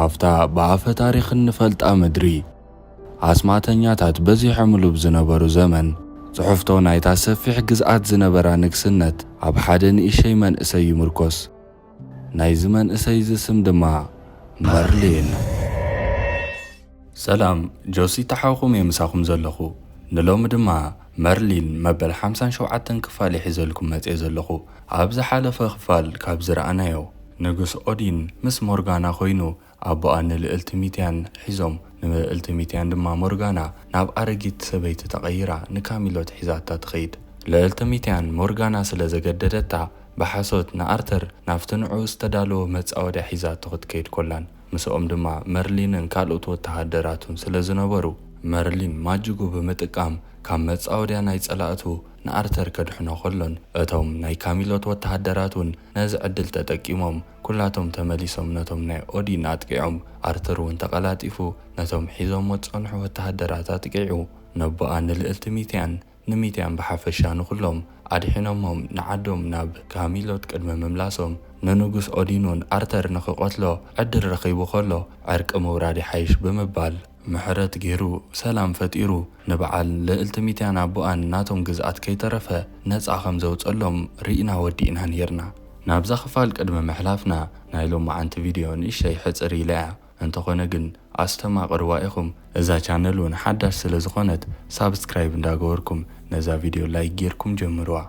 ኣብታ ብኣፈ ታሪኽ እንፈልጣ ምድሪ፣ ኣስማተኛታት በዚሖምሉ ብ ዝነበሩ ዘመን፣ ጽሑፍቶ ናይታ ሰፊሕ ግዝኣት ዝነበራ ንግስነት ኣብ ሓደ ንእሸይ መንእሰይ ይምርኮስ። ናይዚ መንእሰይ'ዚ ስም ድማ መርሊን። ሰላም ጆሲ ታሓውኹም እየ ምሳኹም ዘለኹ ንሎሚ ድማ መርሊን መበል ሓምሳን ሸውዓተን ክፋል እየ ሒዘልኩም መጼ ዘለኹ ኣብ ዝሓለፈ ክፋል ካብ ዝረኣናዮ ንጉስ ኦዲን ምስ ሞርጋና ኮይኑ ኣቦኣ ንልእልቲ ሚትያን ሒዞም ንምእልቲ ሚትያን ድማ ሞርጋና ናብ ኣረጊት ሰበይቲ ተቐይራ ንካሚሎት ሒዛታ ትኸይድ ልእልቲ ሚትያን ሞርጋና ስለ ዘገደደታ ብሓሶት ንኣርተር ናብቲ ንዕኡ ዝተዳለወ መጻወድያ ሒዛቶ ክትከይድ ኮላን ምስኦም ድማ መርሊንን ካልኦት ወተሃደራቱን ስለ ዝነበሩ፣ መርሊን ማጅጉ ብምጥቃም ካብ መጻወድያ ናይ ጸላእቱ ንኣርተር ከድሕኖ ከሎን እቶም ናይ ካሚሎት ወተሃደራት ውን ነዚ ዕድል ተጠቂሞም ኩላቶም ተመሊሶም ነቶም ናይ ኦዲን ኣጥቂዖም ኣርተር ውን ተቐላጢፉ ነቶም ሒዞሞ ዝጸንሑ ወተሃደራት ኣጥቂዑ ነቦኣ ንልእልቲ ሚትያን ንሚድያም ብሓፈሻ ንኹሎም ኣድሒኖሞም ንዓዶም ናብ ካሚሎት ቅድሚ ምምላሶም ንንጉስ ኦዲኑን ኣርተር ንኽቐትሎ ዕድል ረኺቡ ከሎ ዕርቂ ምውራድ ይሓይሽ ብምባል ምሕረት ጌሩ ሰላም ፈጢሩ ንብዓል ልእልቲ ሚትያን ኣቡኣን ናቶም ግዝኣት ከይተረፈ ነጻ ከም ዘውጸሎም ሪኢና ወዲእና ኔርና ናብዛ ክፋል ቅድሚ ምሕላፍና ናይ ሎማዓንቲ ቪድዮ ንእሽተይ ሕጽር ኢላ እያ እንተኾነ ግን ኣስተማቅርዋ ኢኹም እዛ ቻነል ውን ሓዳሽ ስለ ዝኾነት ሳብስክራይብ እንዳገበርኩም ነዛ ቪድዮ ላይክ ጌርኩም ጀምርዋ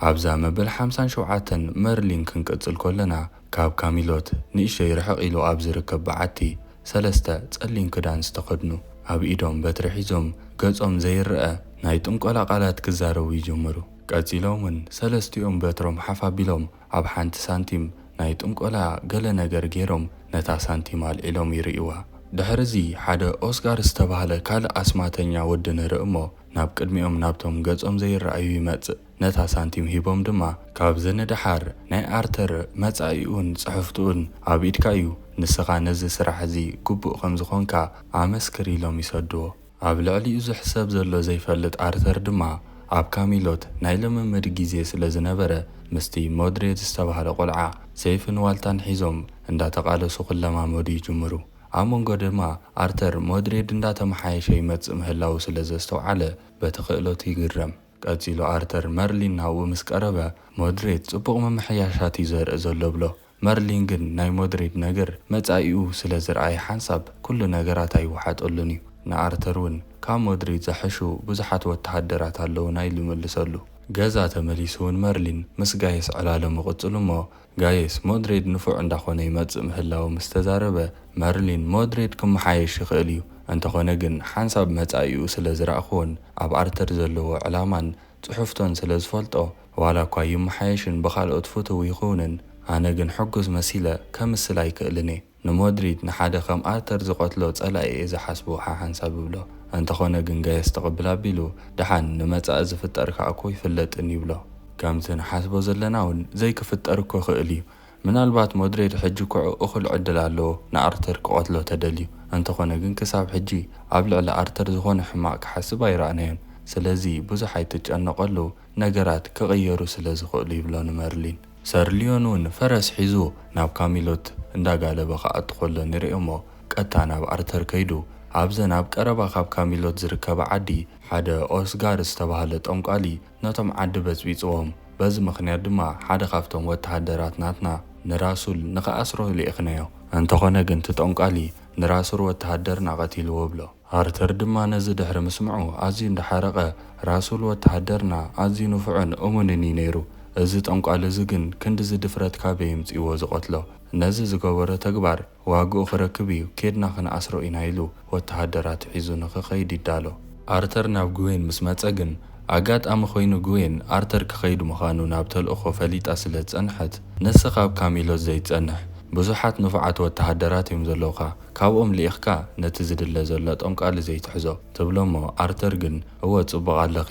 ኣብዛ መበል ሓምሳን ሸውዓተን መርሊን ክንቅጽል ኮለና ካብ ካሚሎት ንእሽተይ ርሕቅ ኢሉ ኣብ ዝርከብ በዓቲ ሰለስተ ጸሊም ክዳን ዝተኸድኑ ኣብ ኢዶም በትሪ ሒዞም ገጾም ዘይረኣ ናይ ጥንቆላ ቃላት ክዛረቡ ይጅምሩ ቀጺሎም ውን ሰለስቲኦም በትሮም ሓፍ ኣቢሎም ኣብ ሓንቲ ሳንቲም ናይ ጥንቆላ ገለ ነገር ገይሮም ነታ ሳንቲም ኣልዒሎም ይርእዩዋ። ድሕርዚ ሓደ ኦስካር ዝተባህለ ካልእ ኣስማተኛ ወዲ ንርኢ እሞ ናብ ቅድሚኦም ናብቶም ገጾም ዘይረኣዩ ይመጽእ። ነታ ሳንቲም ሂቦም ድማ ካብዚ ንደሓር ናይ ኣርተር መጻኢኡን ጽሕፍትኡን ኣብ ኢድካ እዩ ንስኻ ነዚ ስራሕ እዚ ግቡእ ከም ዝኾንካ ኣመስክር ኢሎም ይሰድዎ። ኣብ ልዕሊኡ ዝሕሰብ ዘሎ ዘይፈልጥ ኣርተር ድማ ኣብ ካሚሎት ናይ ልምምድ ግዜ ስለ ዝነበረ ምስቲ ሞድሬት ዝተባህለ ቆልዓ ሰይፍን ዋልታን ሒዞም እንዳተቓለሱ ክለማመዱ ይጅምሩ። ኣብ መንጎ ድማ ኣርተር ሞድሬድ እንዳተመሓየሸ ይመጽእ ምህላዉ ስለ ዘስተውዓለ በቲ ክእለቱ ይግረም። ቀጺሉ ኣርተር መርሊን ናብኡ ምስ ቀረበ ሞድሬት ጽቡቕ ምምሕያሻት እዩ ዘርኢ ዘሎ እብሎ። መርሊን ግን ናይ ሞድሪድ ነገር መጻኢኡ ስለ ዝርኣየ ሓንሳብ ኩሉ ነገራት ኣይወሓጠሉን እዩ። ንኣርተር ውን ካብ ሞድሪድ ዝሐሹ ብዙሓት ወተሃደራት ኣለዉና ኢሉ መልሰሉ። ገዛ ተመሊሱ ውን መርሊን ምስ ጋየስ ዕላሉ ምቕጽሉ እሞ ጋየስ ሞድሪድ ንፉዕ እንዳኾነ ይመጽእ ምህላዉ ምስ ተዛረበ መርሊን ሞድሪድ ክመሓየሽ ይኽእል እዩ እንተኾነ ግን ሓንሳብ መጻኢኡ ስለ ዝረኣኹዎን ኣብ ኣርተር ዘለዎ ዕላማን ጽሑፍቶን ስለ ዝፈልጦ ዋላ እኳ ይመሓየሽን ብኻልኦት ፍቱው ይኹንን፣ ኣነ ግን ሕጉስ መሲለ ከምስል ኣይክእልን'የ። ንሞድሪድ ንሓደ ከም ኣርተር ዝቐትሎ ጸላኢ'የ ዝሓስቦ ሓሓንሳብ እብሎ። እንተኾነ ግን ገየስ ትቕብል ኣቢሉ፣ ደሓን ንመጻኢ ዝፍጠር ከኣ'ኮ ኣይፍለጥን ይብሎ። ከምቲ ንሓስቦ ዘለና'ውን ዘይክፍጠር እኮ ይኽእል'ዩ። ምናልባት ሞድሬድ ሕጂ ኩዑ እኩል ዕድል ኣለዎ ንኣርተር ክቀትሎ ተደልዩ እንተኮነ ግን ክሳብ ሕጂ ኣብ ልዕሊ ኣርተር ዝኮነ ሕማቅ ክሓስብ ኣይረኣናዮን ስለዚ ብዙሕ ኣይትጨነቀሉ ነገራት ክቅየሩ ስለ ዝክእሉ ይብሎ ንመርሊን። ሰር ሊዮን ውን ፈረስ ሒዙ ናብ ካሚሎት እንዳ ጋለበ ክኣቱ ከሎ ንሪኦሞ ቀጥታ ናብ ኣርተር ከይዱ ኣብዘን ኣብ ቀረባ ካብ ካሚሎት ዝርከባ ዓዲ ሓደ ኦስጋር ዝተባሃለ ጠንቋሊ ነቶም ዓዲ በጽቢጽዎም። በዚ ምኽንያት ድማ ሓደ ካብቶም ወተሃደራት ናትና ንራሱል ንኽኣስሮ ልኢኽናዮ። እንተኾነ ግን እቲ ጦንቃሊ ንራሱር ወተሃደርና ቀቲልዎ እብሎ። ኣርተር ድማ ነዚ ድሕሪ ምስምዑ ኣዝዩ እንዳ ሓረቐ፣ ራሱል ወተሃደርና ኣዝዩ ንፉዕን እሙንን እዩ ነይሩ። እዚ ጦንቃሊ እዚ ግን ክንድዚ ድፍረት ካበይ የምጺእዎ ዝቐትሎ? ነዚ ዝገበሮ ተግባር። ዋግኡ ክረክብ እዩ ኬድና ክንኣስሮ ኢና ኢሉ ወተሃደራቱ ሒዙ ንክኸይድ ይዳሎ። ኣርተር ናብ ግዌን ምስ መጸ ግን ኣጋጣሚ ኮይኑ ግዌን ኣርተር ክኸይድ ምኻኑ ናብ ተልእኾ ፈሊጣ ስለ ዝጸንሐት ንስ ካብ ካሚሎስ ዘይትጸንሕ ብዙሓት ንፉዓት ወተሃደራት እዮም ዘለውኻ ካብኦም ልኢኽካ ነቲ ዝድለ ዘሎ ጠንቋሊ ዘይትሕዞ ትብሎ እሞ ኣርተር ግን እወ ጽቡቕ ኣለኺ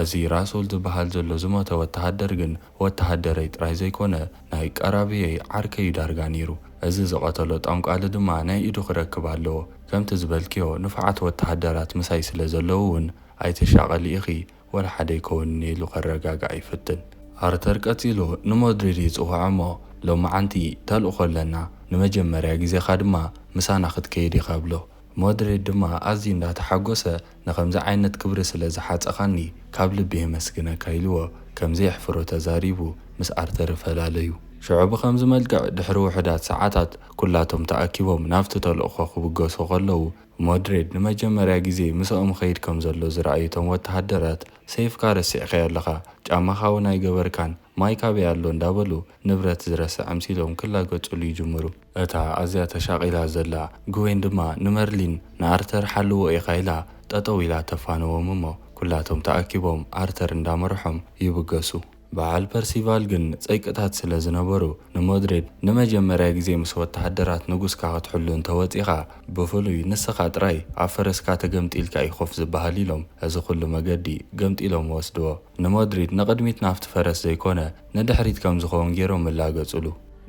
እዚ ራስውል ዝበሃል ዘሎ ዝሞተ ወተሃደር ግን ወተሃደረይ ጥራይ ዘይኮነ ናይ ቀራብየይ ዓርከይ'ዩ ዳርጋ ኔሩ። እዚ ዝቐተሎ ጠንቋሊ ድማ ናይ ኢዱ ክረክብ ኣለዎ። ከምቲ ዝበልክዮ ንፉዓት ወተሃደራት ምሳይ ስለ ዘለዉ'ውን ኣይትሻቐሊ ኢኺ፣ ወላ ሓደ ኣይከውንን ኢሉ ከረጋግዓ ይፍትን። ኣርተር ቀጺሉ ንሞድሪድ ይጽውዖ'ሞ ሎምዓንቲ ተልእኾ ኣለና፣ ንመጀመርያ ግዜኻ ድማ ምሳና ክትከይድ ኢኻ ይብሎ። ሞድሪድ ድማ ኣዝዩ እንዳተሓጎሰ ንኸምዚ ዓይነት ክብሪ ስለ ዝሓጸኻኒ ካብ ልቢ የመስግነካ ኢልዎ ከም ዘየሕፍሮ ተዛሪቡ ምስ ኣርተር ፈላለዩ። ሽዑ ብኸምዚ መልክዕ ድሕሪ ውሑዳት ሰዓታት ኩላቶም ተኣኪቦም ናብቲ ተልእኾ ክብገሱ ከለዉ ሞድሬድ ንመጀመርያ ግዜ ምሰኦም ይኸይድ ከም ዘሎ ዝረኣዩ እቶም ወተሃደራት ሰይፍካ ረሲዕካዮ ኣለኻ ጫማኻ ውን ኣይገበርካን ማይ ካበይ ኣሎ እንዳበሉ ንብረት ዝረሰ ኣምሲሎም ክላገጹሉ ይጅምሩ። እታ ኣዝያ ተሻቒላ ዘላ ግዌን ድማ ንመርሊን ንኣርተር ሓልዎ ኢኻ ኢላ ጠጠው ኢላ ተፋንዎም እሞ ኩላቶም ተኣኪቦም ኣርተር እንዳመረሖም ይብገሱ። በዓል ፐርሲቫል ግን ጸይቅታት ስለ ዝነበሩ ንሞድሬድ ንመጀመርያ ግዜ ምስ ወተሃደራት ንጉስካ ክትሕሉ እንተ ወጺኻ ብፍሉይ ንስኻ ጥራይ ኣብ ፈረስካ ተገምጢልካ እዩ ኮፍ ዝበሃል ኢሎም እዚ ኩሉ መገዲ ገምጢሎም ወስድዎ። ንመድሪድ ንቕድሚት ናብቲ ፈረስ ዘይኮነ ንድሕሪት ከም ዝኸውን ገይሮም እላገጹሉ።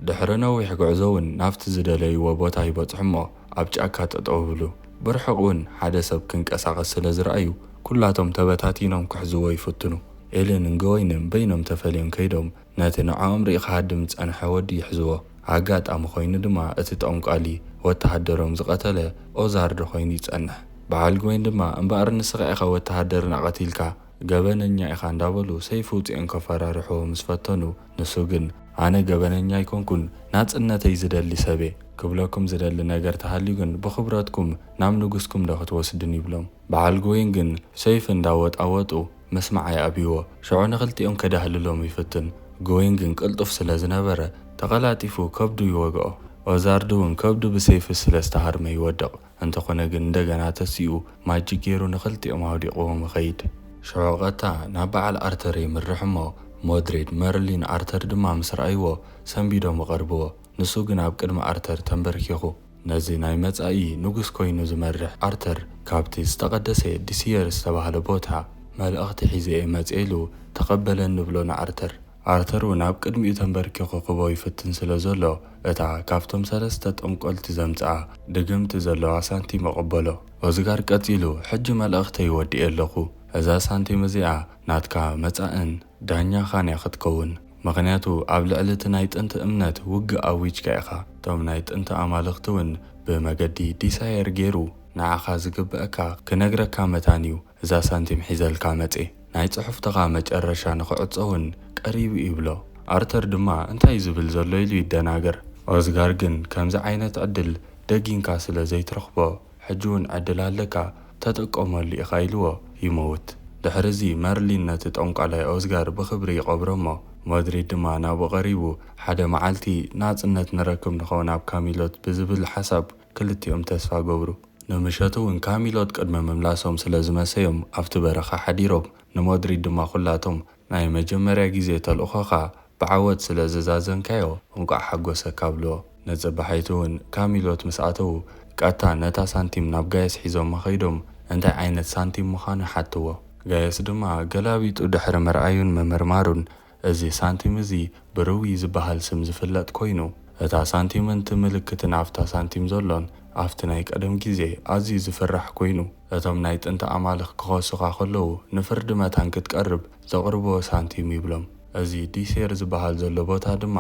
ድሕሪ ነዊሕ ጉዕዞ'ውን ናብቲ ዝደለይዎ ቦታ ይበጽሑ'ሞ ኣብ ጫካ ጠጠው ይብሉ። ብርሑቕ'ውን ሓደ ሰብ ክንቀሳቐስ ስለ ዝረኣዩ ኩላቶም ተበታቲኖም ክሕዝዎ ይፍትኑ። ኤልን ገወይንን በይኖም ተፈልዮም ከይዶም ነቲ ንዕኦም ሪኢ ክሃድም ዝጸንሐ ወዲ ይሕዝዎ። ኣጋጣሚ ኮይኑ ድማ እቲ ጠንቋሊ ወተሃደሮም ዝቐተለ ኦዛርዶ ኮይኑ ይጸንሕ። በዓል ገወይን ድማ እምበኣር ንስኻ ኢኻ ወተሃደርና ቀቲልካ! ገበነኛ ኢኻ እንዳበሉ ሰይፊ ውጺኦም ከፈራርሕዎ ምስ ፈተኑ ንሱ ግን ኣነ ገበነኛ ኣይኮንኩን ናጽነተይ ዝደሊ ሰብየ ክብለኩም ዝደሊ ነገር ተሃልዩ ግን ብኽብረትኩም ናብ ንጉስኩም ዶ ክትወስዱኒ ይብሎም በዓል ጎይን ግን ሰይፊ እንዳወጣወጡ መስመዓ ይኣብይዎ ሽዑ ንኽልቲኦም ከዳህልሎም ይፍትን ጎይን ግን ቅልጡፍ ስለ ዝነበረ ተቐላጢፉ ከብዱ ይወግኦ ኦዛርድ ውን ከብዱ ብሰይፊ ስለ ዝተሃርመ ይወድቕ እንተኾነ ግን እንደገና ተሲኡ ማጂክ ጌሩ ንኽልቲኦም ኣውዲቕዎም ይኸይድ። ሽዑ ቐጥታ ናብ በዓል ኣርተር የምርሕ እሞ ሞድሬድ፣ መርሊን፣ ኣርተር ድማ ምስ ረኣይዎ ሰንቢዶም ይቐርብዎ። ንሱ ግን ኣብ ቅድሚ ኣርተር ተምበርኪኹ ነዚ ናይ መጻኢ ንጉስ ኮይኑ ዝመርሕ ኣርተር ካብቲ ዝተቐደሰ ዲሲየር ዝተባህለ ቦታ መልእኽቲ ሒዘ እየ መጺኤ ኢሉ ተቐበለኒ ይብሎ ንኣርተር። ኣርተር እውን ኣብ ቅድሚኡ ተንበርኪኹ ክበው ይፍትን ስለ ዘሎ፣ እታ ካብቶም ሰለስተ ጠንቈልቲ ዘምጽኣ ደገምቲ ዘለዋ ሳንቲም ኣቐበሎ። ኦዝጋር ቀጺሉ፣ ሕጂ መልእኽተይ ወዲኤ ኣለኹ። እዛ ሳንቲም እዚኣ ናትካ መጻእን ዳኛኻን እያ ክትከውን። ምኽንያቱ ኣብ ልዕሊ እቲ ናይ ጥንቲ እምነት ውግእ ኣዊጅካ ኢኻ። እቶም ናይ ጥንቲ ኣማልኽቲ እውን ብመገዲ ዲሳየር ገይሩ ንዓኻ ዝግበኣካ ክነግረካ መታን እዩ። እዛ ሳንቲም ሒዘልካ መጼ። ናይ ጽሑፍትኻ መጨረሻ ንኽዕጾ ውን ቀሪቡ ይብሎ። ኣርተር ድማ እንታዩ ዝብል ዘሎ ኢሉ ይደናገር። ኦዝጋር ግን ከምዚ ዓይነት ዕድል ደጊንካ ስለ ዘይትረኽቦ ሕጂ ውን ዕድል ኣለካ ተጠቀመሉ ኢኻ ኢልዎ ይመውት። ድሕሪ እዚ መርሊን ነቲ ጠንቋላይ ኦዝጋር ብኽብሪ ይቐብሮ'ሞ ሞድሪድ ድማ ናብኡ ቀሪቡ ሓደ መዓልቲ ናጽነት ንረክብ ንኸውን ኣብ ካሚሎት ብዝብል ሓሳብ ክልቲኦም ተስፋ ገብሩ። ንምሸቱ እውን ካሚሎት ቅድሚ ምምላሶም ስለ ዝመሰዮም ኣብቲ በረኻ ሓዲሮም፣ ንሞድሪድ ድማ ኩላቶም ናይ መጀመርያ ግዜ ተልእኾኻ ብዓወት ስለ ዘዛዘምካዮ እንቋዕ ሓጎሰካ ብልዎ። ንጽባሒቱ እውን ካሚሎት ምስ ኣተዉ ቀጥታ ነታ ሳንቲም ናብ ጋየስ ሒዞማ ከይዶም እንታይ ዓይነት ሳንቲም ምዃኑ ሓትዎ። ጋየስ ድማ ገላቢጡ ድሕሪ ምርኣዩን ምምርማሩን እዚ ሳንቲም እዚ ብርዊ ዝበሃል ስም ዝፍለጥ ኮይኑ፣ እታ ሳንቲምን እቲ ምልክትን ኣብታ ሳንቲም ዘሎን ኣብቲ ናይ ቀደም ግዜ ኣዝዩ ዝፍራሕ ኮይኑ፣ እቶም ናይ ጥንቲ ኣማልኽ ክኸሱኻ ከለዉ ንፍርዲ መታን ክትቀርብ ዘቕርብዎ ሳንቲም ይብሎም። እዚ ዲሴር ዝበሃል ዘሎ ቦታ ድማ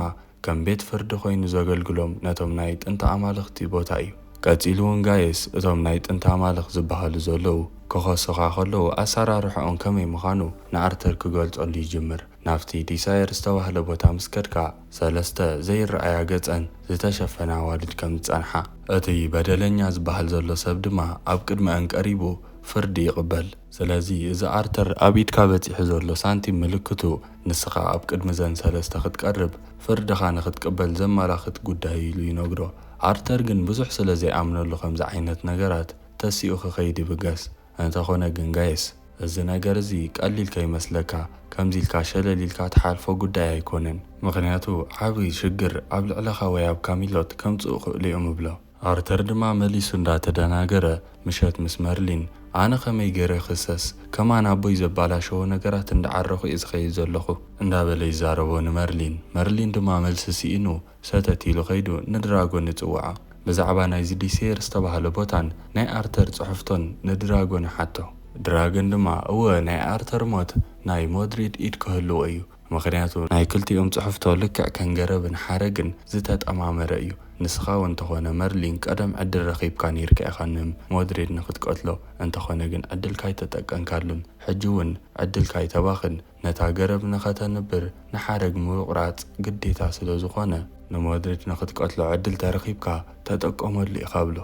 ከም ቤት ፍርዲ ኮይኑ ዘገልግሎም ነቶም ናይ ጥንቲ ኣማልኽቲ ቦታ እዩ። ቀጺሉ ውን ጋየስ እቶም ናይ ጥንቲ ኣማልኽ ዝበሃሉ ዘለዉ ክኸሱኻ ከለዉ ኣሰራርሕኦም ከመይ ምኻኑ ንኣርተር ክገልጸሉ ይጅምር። ናብቲ ዲሳየር ዝተባህለ ቦታ ምስ ከድካ ሰለስተ ዘይረኣያ ገጸን ዝተሸፈና ኣዋልድ ከም ዝጸንሓ። እቲ በደለኛ ዝበሃል ዘሎ ሰብ ድማ ኣብ ቅድሚኣን ቀሪቡ ፍርዲ ይቕበል። ስለዚ እዚ ኣርተር ኣብ ኢድካ በጺሑ ዘሎ ሳንቲም ምልክቱ ንስኻ ኣብ ቅድሚ እዘን ሰለስተ ክትቀርብ ፍርድኻ ንኽትቅበል ዘመላኽት ጉዳይ እዩ ኢሉ ይነግሮ። ኣርተር ግን ብዙሕ ስለ ዘይኣምነሉ ከምዚ ዓይነት ነገራት ተሲኡ ክኸይድ ይብገስ። እንተኾነ ግን ጋይስ! እዚ ነገር እዚ ቀሊል ከይመስለካ ከምዚ ኢልካ ሸለል ኢልካ ትሓልፎ ጉዳይ ኣይኮነን። ምኽንያቱ ዓቢ ሽግር ኣብ ልዕለኻ ወይ ኣብ ካሚሎት ከምጽኡ ክእሉ እዮም እብሎ። ኣርተር ድማ መሊሱ እንዳ ተደናገረ ምሸት ምስ መርሊን ኣነ ከመይ ገይረ ክክሰስ ከማን ኣቦይ ዘባላሸዎ ነገራት እንዳ ዓረኩ እየ ዝከይድ ዘለኩ እንዳ በለ ይዛረቦ ንመርሊን መርሊን ድማ መልሲ ሲኢኑ ሰተት ኢሉ ከይዱ ንድራጎን ይጽውዓ ብዛዕባ ናይዚ ዲሴየር ዝተባህለ ቦታን ናይ ኣርተር ጽሑፍቶን ንድራጎን ይሓቶ ድራገን ድማ እወ ናይ ኣርተር ሞት ናይ ሞድሪድ ኢድ ክህልዎ እዩ ምኽንያቱ ናይ ክልቲኦም ጽሑፍቶ ልክዕ ከም ገረብን ሓረግን ዝተጠማመረ እዩ። ንስኻ ውን ተኾነ መርሊን ቀደም ዕድል ረኺብካ ኔርካ ኢኻ ን ሞድሬድ ንክትቀትሎ እንተኾነ ግን ዕድልካ ኣይተጠቀንካሉን ሕጂ ውን ዕድልካ ኣይተባኽን ነታ ገረብ ንኸተንብር ንሓረግ ምውቕራጽ ግዴታ ስለዝኾነ ንሞድሬድ ንክትቀትሎ ዕድል ተረኺብካ ተጠቀመሉ ኢኻ ብሎ።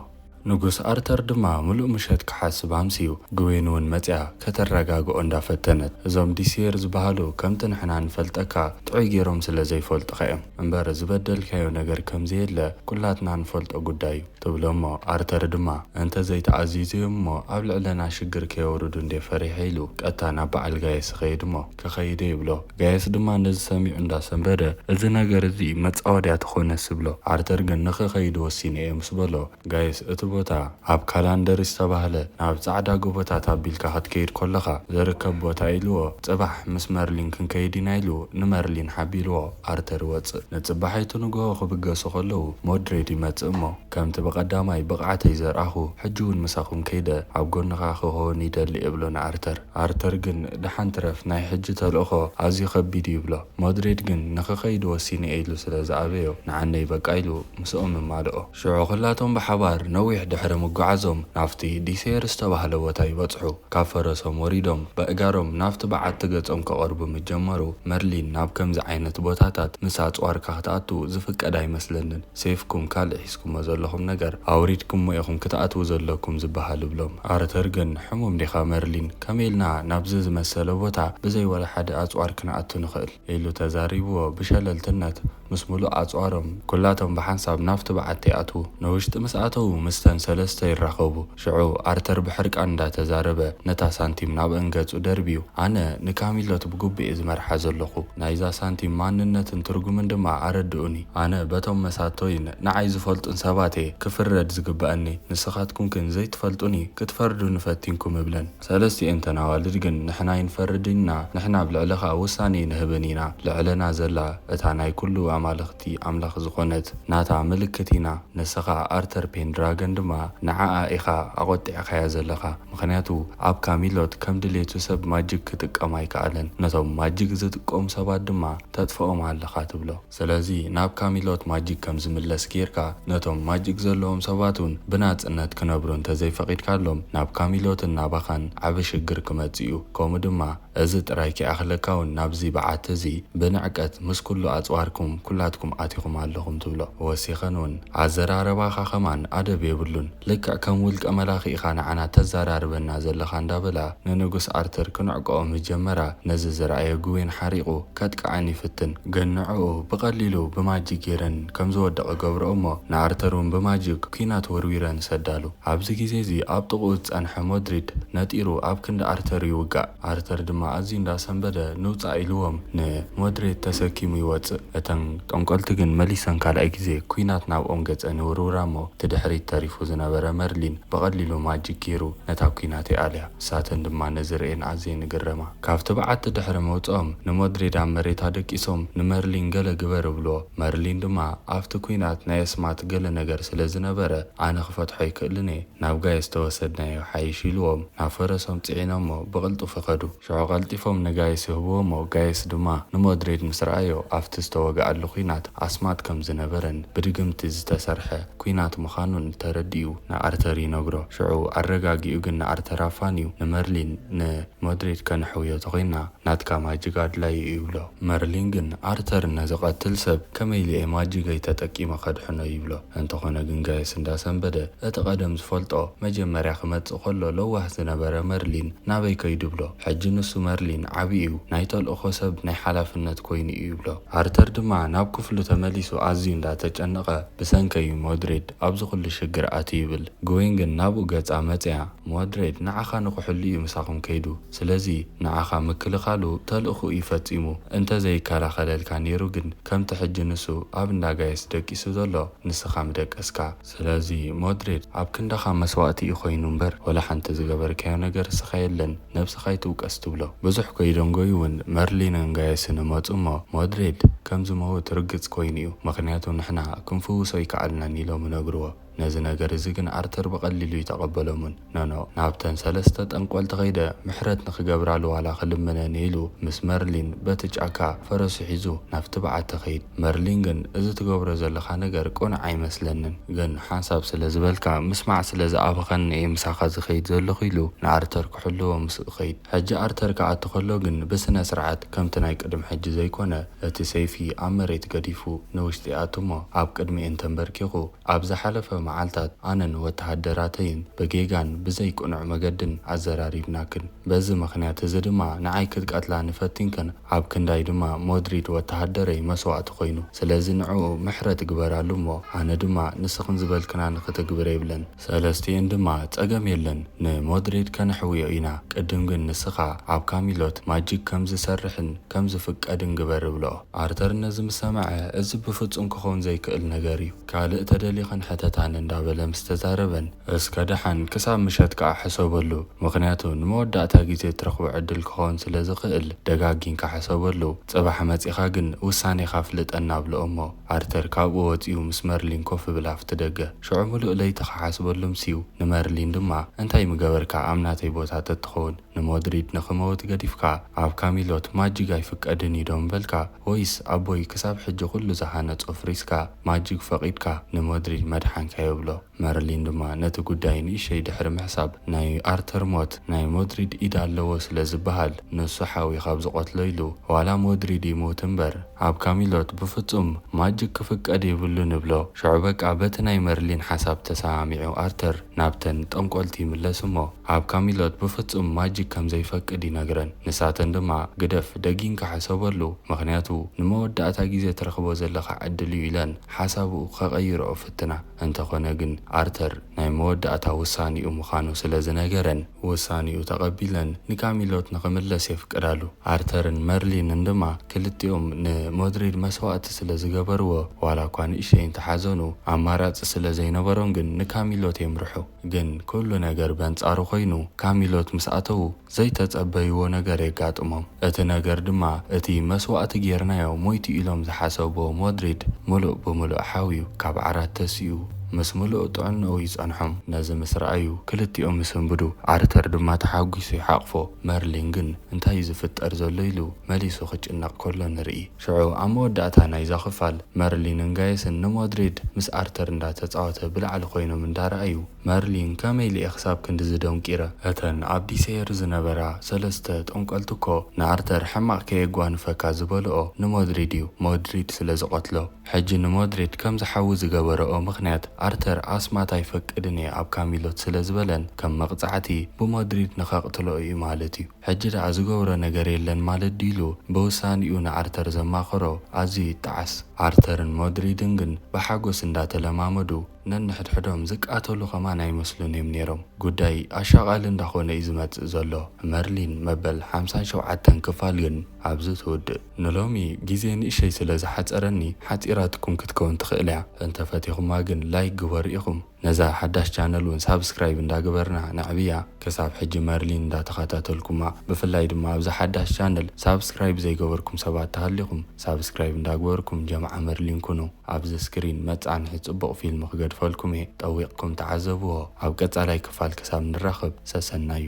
ንጉስ ኣርተር ድማ ምሉእ ምሸት ክሓስብ ኣምስዩ። ግዌን እውን መጺኣ ከተረጋግኦ እንዳ ፈተነት፣ እዞም ዲሲየር ዝበሃሉ ከምቲ ንሕና እንፈልጠካ ጥዑይ ጌሮም ስለ ዘይፈልጡኻ እዮም እምበር ዝበደልካዮ ነገር ከም ዘየለ ኩላትና ንፈልጦ ጉዳይ እዩ ትብሎ እሞ ኣርተር ድማ እንተ ዘይተኣዚዙ እዮም እሞ ኣብ ልዕለና ሽግር ከየውርዱ እንድየ ፈሪሐ ኢሉ ቀጥታ ናብ በዓል ጋየስ ይኸይድ እሞ ተኸይደ ይብሎ። ጋየስ ድማ ነዚ ሰሚዑ እንዳ ሰንበደ እዚ ነገር እዚ መጻወድያ ተኾነስ ይብሎ። ኣርተር ግን ንኽኸይድ ወሲነ እየ ምስ በሎ ጋየስ እቲ ቦታ ኣብ ካላንደሪ ዝተባህለ ናብ ጻዕዳ ጎቦታት ኣቢልካ ክትከይድ ኮለኻ ዝርከብ ቦታ ኢልዎ ጽባሕ ምስ መርሊን ክንከይድ ኢና ኢሉ ንመርሊን ሓቢርዎ ኣርተር ይወጽእ ንጽባሒቱ ንግሆ ክብገሱ ከለዉ ሞድሬድ ይመጽእ እሞ ከምቲ ብቀዳማይ ብቅዓተይ ዘርኣኹ ሕጂ ውን ምሳኹም ከይደ ኣብ ጎንኻ ክኾውን ይደሊ እብሎ ንኣርተር። ኣርተር ግን ደሓን ትረፍ ናይ ሕጂ ተልእኾ ኣዝዩ ከቢድ እዩ ይብሎ። ሞድሬድ ግን ንኽኸይድ ወሲኑ እየ ኢሉ ስለ ዝኣበዮ ንዓነይ በቃ ኢሉ ምስኦም እማልኦ። ሽዑ ኹላቶም ብሓባር ነዊሕ ድሕሪ ምጉዓዞም ናብቲ ዲሴየር ዝተባህለ ቦታ ይበጽሑ። ካብ ፈረሶም ወሪዶም በእጋሮም ናብቲ በዓቲ ገጾም ከቐርቡ ምስ ጀመሩ መርሊን ናብ ከምዚ ዓይነት ቦታታት ምስ ኣጽዋርካ ክትኣቱ ዝፍቀድ ኣይመስለንን። ሴፍኩም ካልእ ሒዝኩሞ ዘለኹም ነገር ኣውሪድኩሞ ኢኹም ክትኣትዉ ዘለኩም ዝበሃል እብሎም። ኣርተር ግን ሕሙም ዲኻ መርሊን? ከመይ ኢልና ናብዚ ዝመሰለ ቦታ ብዘይ ወላ ሓደ ኣጽዋር ክንኣቱ ንኽእል? ኢሉ ተዛሪብዎ ብሸለልትነት ምስ ምሉእ ኣጽዋሮም ኩላቶም ብሓንሳብ ናብቲ በዓቲ ኣትዉ። ንውሽጢ ምስ ኣተዉ ምስተን ሰለስተ ይራኸቡ። ሽዑ ኣርተር ብሕርቃን እንዳ ተዛረበ ነታ ሳንቲም ናብ ኣንገጹ ደርብዩ፣ ኣነ ንካሚሎት ብግቡእ'የ ዝመርሓ ዘለኹ፣ ናይዛ ሳንቲም ማንነትን ትርጉምን ድማ ኣረድኡኒ። ኣነ በቶም መሳቶይን ንዓይ ዝፈልጡን ሰባት'የ ክፍረድ ዝግበኣኒ፣ ንስኻትኩም ግን ዘይትፈልጡኒ ክትፈርዱኒ ፈቲንኩም እብለን። ሰለስቲኤን እተን ኣዋልድ ግን ንሕና ኣይንፈርድን ኢና፣ ንሕና ኣብ ልዕሊ ኸኣ ውሳኔ ኣይንህብን ኢና፣ ልዕለና ዘላ እታ ናይ ኩሉ ኣማልኽቲ ኣምላኽ ዝኾነት ናታ ምልክት ኢና፣ ንስኻ ኣርተር ፔንድራገን ድማ ንዓኣ ኢኻ ኣቖጢዕካያ ዘለኻ፣ ምኽንያቱ ኣብ ካሚሎት ከም ድሌቱ ሰብ ማጅግ ክጥቀም ኣይከኣለን፣ ነቶም ማጅግ ዝጥቀሙ ሰባት ድማ ተጥፍኦም ኣለኻ ትብሎ። ስለዚ ናብ ካሚሎት ማጂክ ከም ዝምለስ ጌርካ ነቶም ማጂክ ዘለዎም ሰባት ውን ብናጽነት ክነብሩ እንተ ዘይፈቂድካሎም ናብ ካሚሎትን ናባኻን ዓቢ ሽግር ክመጽእ እዩ ከምኡ ድማ እዚ ጥራይ ከይኣኽለካ ውን ናብዚ በዓቲ እዚ ብንዕቀት ምስ ኩሉ ኣጽዋርኩም ኩላትኩም ኣቲኹም ኣለኹም ትብሎ ወሲኸን ውን ኣዘራርባኻ ከማን ኣደብ የብሉን ልክዕ ከም ውልቀ መላኺ ኢኻ ንዓና ተዛራርበና ዘለኻ እንዳበላ ንንጉስ ኣርትር ክንዕቀኦ ምጀመራ ነዚ ዝረኣየ ግዌን ሓሪቁ ከጥቅዐን ይፍትን ግን ንዕኡ ብቀሊሉ ብማጂክ ጌረን ከም ዝወድቅ እገብርኦ እሞ ንኣርተር ውን ብማጂክ ኩናት ወርዊረ ንሰዳሉ ኣብዚ ግዜ እዚ ኣብ ጥቅኡ ዝጸንሐ ሞድሪድ ነጢሩ ኣብ ክንዲ ኣርተር ይውጋእ ኣርተር ድማ ኣዝዩ እንዳ ሰንበደ ንውጻእ ኢልዎም ን ሞድሬድ ተሰኪሙ ይወጽእ እተን ጠንቆልቲ ግን መሊሰን ካልኣይ ግዜ ኩናት ናብኦም ገጸን ይውርውራ እሞ እቲ ድሕሪት ተሪፉ ዝነበረ መርሊን ብቀሊሉ ማጂክ ጌሩ ነታ ኩናት ይኣልያ ንሳተን ድማ ነዚ ርእየን ኣዝየን ይግረማ። ካብ ትብዓት ድሕሪ ምውጽኦም ንሞድሪድ ኣብ መሬታ ደቂሶም ንመርሊን ገለ ግበር እብሎ መርሊን ድማ ኣብቲ ኩናት ናይ ኣስማት ገለ ነገር ስለ ዝነበረ ኣነ ክፈትሖ ኣይክእልን'የ ናብ ጋይስ ተወሰድናዮ ይሓይሽ ኢልዎም ናብ ፈረሶም ጽዒኖሞ ብቕልጡፍ ኸዱ ሽዑ ቀልጢፎም ንጋይስ ይህብዎሞ ጋይስ ድማ ንሞድሪድ ምስ ረኣዮ ኣብቲ ዝተወግኣሉ ኩናት ኣስማት ከም ዝነበረን ብድግምቲ ዝተሰርሐ ኩናት ምኻኑን ተረዲኡ ንኣርተር ይነግሮ ሽዑ ኣረጋጊኡ ግን ንኣርተር ኣፋንዩ ንመርሊን ን መድሪድ ከነሕውዮ ተኾይንና ናትካ ማጂግ ኣድላዩ እዩ ይብሎ። መርሊን ግን ኣርተር ነዚ ቀትል ሰብ ከመይ ኢለ እየ ማጂገይ ተጠቂመ ከድሕኖ ይብሎ። እንተኾነ ግን ጋየስ እንዳሰንበደ እቲ ቀደም ዝፈልጦ መጀመርያ ክመጽእ ከሎ ለዋህ ዝነበረ መርሊን ናበይ ከይዱ ይብሎ። ሕጂ ንሱ መርሊን ዓቢ እዩ ናይ ተልእኾ ሰብ ናይ ሓላፍነት ኮይኑ እዩ ይብሎ። ኣርተር ድማ ናብ ክፍሉ ተመሊሱ ኣዝዩ እንዳተጨነቐ ብሰንከይ እዩ መድሪድ ኣብዚ ኩሉ ሽግር ኣትዩ ይብል። ግዌን ግን ናብኡ ገጻ መጽያ። ሞድሬድ ንዓኻ ንኽሕሉ እዩ ምሳኹም ከይዱ ስለዚ ንዓኻ ምክልኻሉ ተልእኹኡ እዩ ፈጺሙ እንተ ዘይከላኸለልካ ኔሩ ግን ከምቲ ሕጂ ንሱ ኣብ እንዳ ጋይስ ደቂሱ ዘሎ ንስኻ ምደቀስካ ስለዚ ሞድሬድ ኣብ ክንዳኻ መስዋእቲ እዩ ኮይኑ እምበር ወላ ሓንቲ ዝገበርካዮ ነገር እስኻ የለን ነብስኻ ኣይትውቀስ ትብሎ ብዙሕ ከይደንጎዩ ውን መርሊንን ጋይስን እመጹ እሞ ሞድሬድ ከም ዝመውት ርግጽ ኮይኑ እዩ ምኽንያቱ ንሕና ክንፍውሶ ኣይከኣልናን ኢሎም ይነግርዎ ነዚ ነገር እዚ ግን ኣርተር ብቐሊሉ ኣይተቐበሎምን። ኖኖ፣ ናብተን ሰለስተ ጠንቆልቲ ከይደ ምሕረት ንኽገብራሉ ዋላ ክልምነን እየ ኢሉ ምስ መርሊን በቲ ጫካ ፈረሱ ሒዙ ናብቲ በዓቲ ከይድ። መርሊን ግን እዚ ትገብሮ ዘለኻ ነገር ቅኑዕ ኣይመስለንን፣ ግን ሓንሳብ ስለ ዝበልካ ምስማዕ ስለ ዝኣበኸኒ እየ ምሳኻ ዝኸይድ ዘለኹ ኢሉ ንኣርተር ክሕልዎ ምስኡ ይኸይድ። ሕጂ ኣርተር ክኣቱ ከሎ ግን ብስነ ስርዓት ከምቲ ናይ ቅድም ሕጂ ዘይኮነ እቲ ሰይፊ ኣብ መሬት ገዲፉ ንውሽጢ ይኣቱ እሞ ኣብ ቅድሚኤን ተንበርኪኹ ኣብ ዝሓለፈ መዓልታት ኣነን ወተሃደራተይን ብጌጋን ብዘይ ቅኑዕ መገድን ኣዘራሪብናክን። በዚ ምኽንያት እዚ ድማ ንዓይ ክትቀትላኒ ፈቲንክን ኣብ ክንዳይ ድማ ሞድሪድ ወተሃደረይ መስዋእቲ ኮይኑ። ስለዚ ንዕኡ ምሕረት ግበራሉ እሞ ኣነ ድማ ንስኽን ዝበልክናኒ ክተግብረ ይብለን። ሰለስቲኤን ድማ ጸገም የለን ንሞድሪድ ከነሕውዮ ኢና ቅድም ግን ንስኻ ኣብ ካሚሎት ማጂክ ከም ዝሰርሕን ከም ዝፍቀድን ግበር እብልኦ። ኣርተር ነዚ ምስ ሰምዐ፣ እዚ ብፍጹም ክኸውን ዘይክእል ነገር እዩ፣ ካልእ ተደሊኽን ሕተታኒ እንዳበለ ምስ ተዛረበን፣ እስከ ደሓን ክሳብ ምሸት ከኣ ሕሰበሉ፣ ምኽንያቱ ንመወዳእታ ግዜ እትረኽቦ ዕድል ክኸውን ስለ ዝኽእል ደጋጊንካ ሕሰበሉ፣ ጽባሕ መጺኻ ግን ውሳኔኻ ኣፍልጠና ኣብልኦ'ሞ። ኣርተር ካብኡ ወጺኡ ምስ መርሊን ኮፍ እብል ኣብቲ ደገ። ሽዑ ምሉእ ለይቲ ክሓስበሉ ኣምስዩ፣ ንመርሊን ድማ እንታይ ምገበርካ ኣብ ናተይ ቦታ ተትኸውን? ንሞድሪድ ንኽመውት ገዲፍካ ኣብ ካሚሎት ማጂግ ኣይፍቀድን እዩ ዶ ምበልካ ወይስ ኣቦይ ክሳብ ሕጂ ኩሉ ዝሃነጾ ፍሪስካ ማጂግ ፈቂድካ ንሞድሪድ መድሓንካዮ ይብሎ መርሊን ድማ ነቲ ጉዳይ ንእሸይ ድሕሪ ምሕሳብ ናይ ኣርተር ሞት ናይ ሞድሪድ ኢድ ኣለዎ ስለ ዝበሃል ንሱ ሓዊ ካብ ዝቆትሎ ኢሉ ዋላ ሞድሪድ ይሙት እምበር ኣብ ካሚሎት ብፍጹም ማጂግ ክፍቀድ የብሉን ይብሎ ሽዑ በቃ በቲ ናይ መርሊን ሓሳብ ተሰማሚዑ ኣርተር ናብተን ጠንቆልቲ ይምለስ እሞ ኣብ ካሚሎት ብፍጹም ማጂክ ከም ዘይፈቅድ ይነግረን ንሳተን ድማ ግደፍ ደጊንካ ሕሰበሉ ምኽንያቱ ንመወዳእታ ግዜ ትረኽቦ ዘለኻ ዕድል እዩ ኢለን ሓሳቡ ከቐይርኦ ይፍትና እንተኾነ ግን ኣርተር ናይ መወዳእታ ውሳኔኡ ምኻኑ ስለ ዝነገረን ውሳኔኡ ተቐቢለን ንካሚሎት ንኽምለስ የፍቅዳሉ ኣርተርን መርሊንን ድማ ክልቲኦም ን ሞድሪድ መስዋእቲ ስለ ዝገበርዎ ዋላኳ ንእሽተይ እንተሓዘኑ ኣማራጺ ስለ ዘይነበሮም ግን ንካሚሎት የምርሑ። ግን ኩሉ ነገር በንጻሩ ኮይኑ ካሚሎት ምስ ኣተዉ ዘይተጸበይዎ ነገር የጋጥሞም እቲ ነገር ድማ እቲ መስዋእቲ ጌርናዮ ሞይቱ ኢሎም ዝሓሰብዎ ሞድሪድ ምሉእ ብምሉእ ሓውዩ ካብ ዓራት ተሲኡ ምስ ምሉእ ጥዕንኡ ይጸንሖም ነዚ ምስ ረኣዩ ክልቲኦም ይስንብዱ ኣርተር ድማ ተሓጒሱ ይሓቕፎ መርሊን ግን እንታዩ ዝፍጠር ዘሎ ኢሉ መሊሱ ክጭነቕ ከሎ ንርኢ። ሽዑ ኣብ መወዳእታ ናይዛ ክፋል፣ መርሊንን ጋየስን ንሞድሪድ ምስ ኣርተር እንዳ ተጻወተ ብላዕሊ ኮይኖም እንዳ ረኣዩ፣ መርሊን ከመይ ኢለ'የ ክሳብ ክንድዚ ደንቂረ? እተን ኣብ ዲሰየር ዝነበራ ሰለስተ ጠንቆልቲ እኮ ንኣርተር ሕማቕ ከየጓንፈካ ዝበልኦ ንሞድሪድ እዩ፣ ሞድሪድ ስለ ዝቐትሎ። ሕጂ ንሞድሪድ ከም ዝሓዊ ዝገበረኦ ምኽንያት ኣርተር ኣስማት ኣይፈቅድን እየ ኣብ ካሚሎት ስለ ዝበለን ከም መቕጻዕቲ ብሞድሪድ ንከቕትሎ እዩ ማለት እዩ። ሕጂ ደኣ ዝገብሮ ነገር የለን ማለት ድዩ ኢሉ ብውሳኔኡ ንኣርተር ዘማኸሮ ኣዝዩ ይጠዓስ። ኣርተርን ሞድሪድን ግን ብሓጎስ እንዳ ተለማመዱ ነንሕድሕዶም ዝቃተሉ ከማን ኣይመስሉን እዮም ኔሮም። ጉዳይ ኣሻቓሊ እንዳ ኮነ እዩ ዝመጽእ ዘሎ። መርሊን መበል ሓምሳን ሸውዓተን ክፋል ግን ኣብዚ ትውድእ። ንሎሚ ግዜ ንእሸይ ስለ ዝሓጸረኒ ሓጺራትኩም ክትከውን ትኽእል እያ እንተ ፈቲኹማ ግን ላይክ ግበሩ ኢኹም። ነዛ ሓዳሽ ቻነል ውን ሳብስክራይብ እንዳ ግበርና ነዕብያ ክሳብ ሕጂ መርሊን እንዳ ተካታተልኩማ ብፍላይ ድማ ኣብዛ ሓዳሽ ቻነል ሳብስክራይብ ዘይገበርኩም ሰባት ተሃሊኩም ሳብስክራይብ እንዳ ግበርኩም ጀምዓ መርሊን ኩኑ ኣብዚ ስክሪን መጻንሒ ጽቡቅ ፊልም ክገድፈልኩም እየ ጠዊቅኩም ተዓዘብዎ ኣብ ቀጻላይ ክፋል ክሳብ ንራከብ ሰሰናዩ።